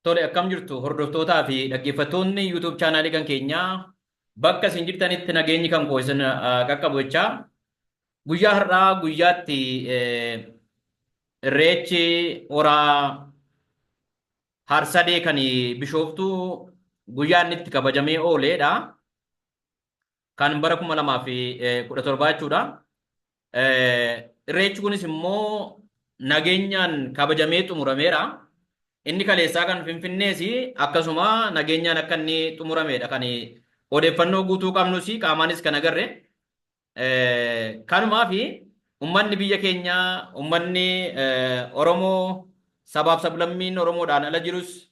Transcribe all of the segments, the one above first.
Tole akkam jirtu hordoftootaa fi dhaggeeffattoonni YouTube chaanaalii kan keenyaa bakka isin jirtanitti nageenyi kan koo isin ah, qaqqabu jechaa guyyaa har'aa guyyaatti eh, irreechi horaa harsadee kan bishooftu guyyaa inni itti kabajamee ooleedha. kan bara 2017 jechuudha. Irreechi kunis immoo nageenyaan kabajamee xumurameera. Inni kaleessaa kan Finfinnees akkasuma nageenyaan akka inni xumurameedha kan odeeffannoo guutuu qabnus qaamaanis kan agarre. Kanumaaf ummanni biyya keenya ummanni Oromoo sabaaf sablammiin Oromoodhaan ala jirus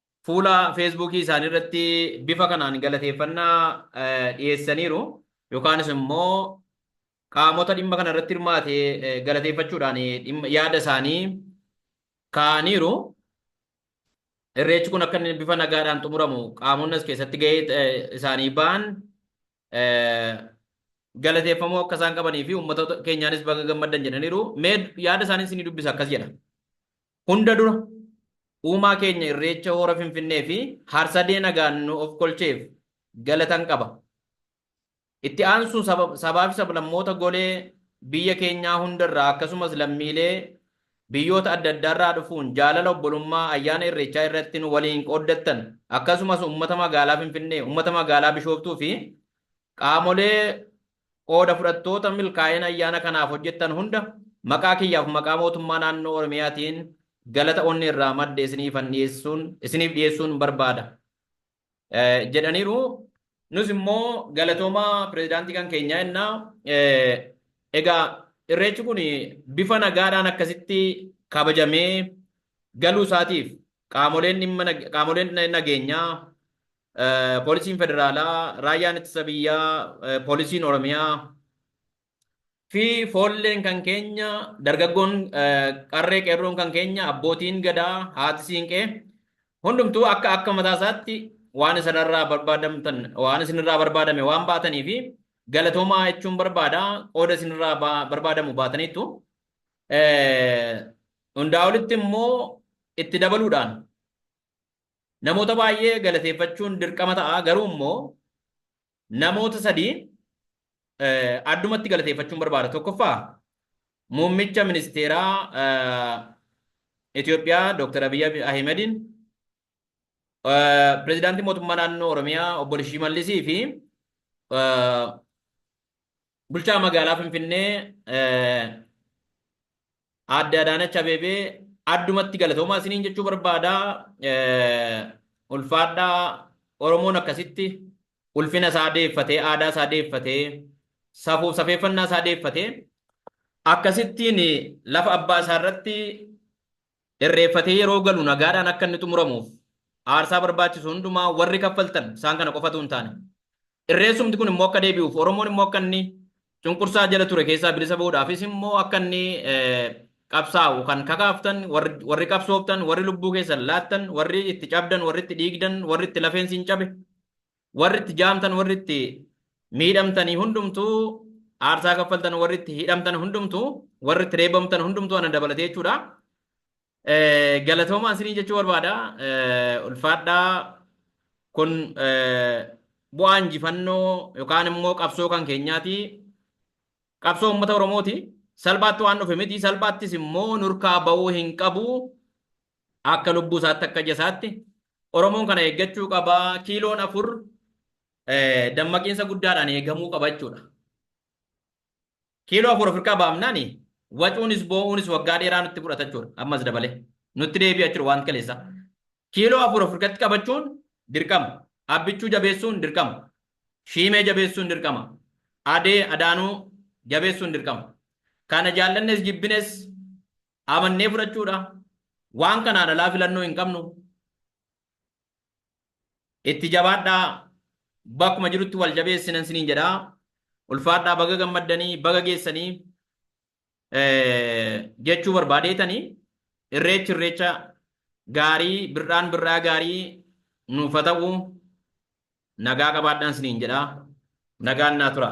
fuula feesbuukii isaanii irratti bifa kanaan galateeffannaa dhiyeessaniiru yookaanis immoo qaamota dhimma kana irratti hirmaate galateeffachuudhaan yaada isaanii kaa'aniiru. Irreechi kun akka inni bifa nagaadhaan xumuramu qaamonni as keessatti gahee isaanii ba'an galateeffamuu akka isaan qabanii fi uummata keenyaanis baga gammaddan jedhaniiru. Mee yaada isaanii isinii dubbisa akkas jedha. Hunda dura, Uumaa keenya Irreecha Hora Finfinnee fi Harsadee nagaan nu ofkolcheef galatan qaba. Itti aansuun saba, sabaa fi sablammoota golee biyya keenyaa hunda irraa akkasumas lammiilee biyyoota adda addaa irraa dhufuun jaalala obbolummaa ayyaana Irreechaa irratti nu waliin qooddattan akkasumas uummata magaalaa Finfinnee, uummata magaalaa Bishooftuu fi qaamolee Qooda fudhattoota milkaa'ina ayyaana kanaaf hojjettan hunda maqaa kiyyaaf maqaa mootummaa naannoo Oromiyaatiin galata onnee irraa madde isiniifan dhiyeessuun isiniif dhiyeessuun barbaada jedhaniiru. Nus immoo galatoomaa pirezidaantii kan keenyaa jennaa. Egaa irreechi kun bifa nagaadhaan akkasitti kabajamee galuu isaatiif qaamoleen dhimma qaamoleen nageenyaa Poolisiin Federaalaa, Raayyaan Ittisa Biyyaa, Poolisiin Oromiyaa fi foolleen kan keenya, dargaggoon qarree qeerroon kan keenya, abbootiin gadaa, haati siinqee hundumtuu akka akka mataa isaatti waan isinirraa barbaadamtan waan isinirraa barbaadame waan baatanii fi galatoomaa jechuun barbaada qooda isinirraa barbaadamu baataniittu. Hundaa olitti immoo itti dabaluudhaan Namoota baay'ee galateeffachuun dirqama ta'a garuu immoo namoota sadii addumatti galateeffachuun barbaada. Tokkoffaa muummicha ministeeraa Itoophiyaa Dr. Abiy Ahimediin pirezidaantii mootummaa naannoo Oromiyaa obbo Shimallisii fi Bulchaa Magaalaa Finfinnee Aadde Adaanach Abeebee addumatti galatoomaa isiniin jechuu barbaada. Ulfaadhaa Oromoon akkasitti ulfina isaa deeffatee, aadaa isaa deeffatee, safuuf safeeffannaa isaa deeffatee akkasittiin lafa abbaa isaa irratti Irreeffatee yeroo galu nagaadhaan akka inni xumuramuuf aarsaa barbaachisu hundumaa warri kaffaltan isaan kana qofa utuu hin taane, Irreessumti kun immoo akka deebi'uuf, Oromoon immoo akka inni cunqursaa jala ture keessaa bilisa bahuudhaafis immoo akka inni qabsaa'u kan kakaaftan, warri qabsooftan, warri lubbuu keessan laattan, warri itti cabdan, warri itti dhiigdan, warri itti lafeen siin cabe, Warri itti jaamtan, warri itti miidhamtanii hundumtuu, aarsaa kaffaltan, warri itti hidhamtan hundumtuu, warri itti reebamtan hundumtuu ana dabalatee jechuudha. Eh, Galatoomaa isinii jechuu barbaada. Eh, Ulfaadhaa kun eh, bu'aa injifannoo yookaan immoo qabsoo kan keenyaati. Qabsoo uummata Oromooti. Salphaatti waan dhufe miti. Salphaattis immoo nurkaa ba'uu hin qabu. Akka lubbuu isaatti akka ija isaatti Oromoon kana eeggachuu qaba. Kiiloon afur dammaqiinsa guddaadhaan eegamuu qaba jechuudha. Kiiloo afur ofirkaa baafnaan wacuunis boo'uunis waggaa dheeraa nutti fudhata jechuudha. Ammas dabalee nutti deebi'a jechuudha waan kaleessaa. Kiiloo afur ofirkatti qabachuun dirqama. Abbichuu jabeessuun dirqama. Shiimee jabeessuun dirqama. Adee adaanuu jabeessuun dirqama. Kana jaallannes jibbines Amannee fudhachuudha. Waan kanaan alaa filannoo hin qabnu. Itti jabaadhaa. Bakkuma jirutti wal jabeessinan isiniin jedha. Ulfaadhaa baga gammaddanii baga geessanii jechuu barbaadeetanii irreechi irreecha gaarii birraan birraa gaarii nuuf haa ta'u nagaa qabaadhaan isiniin jedha. Nagaan naa tura.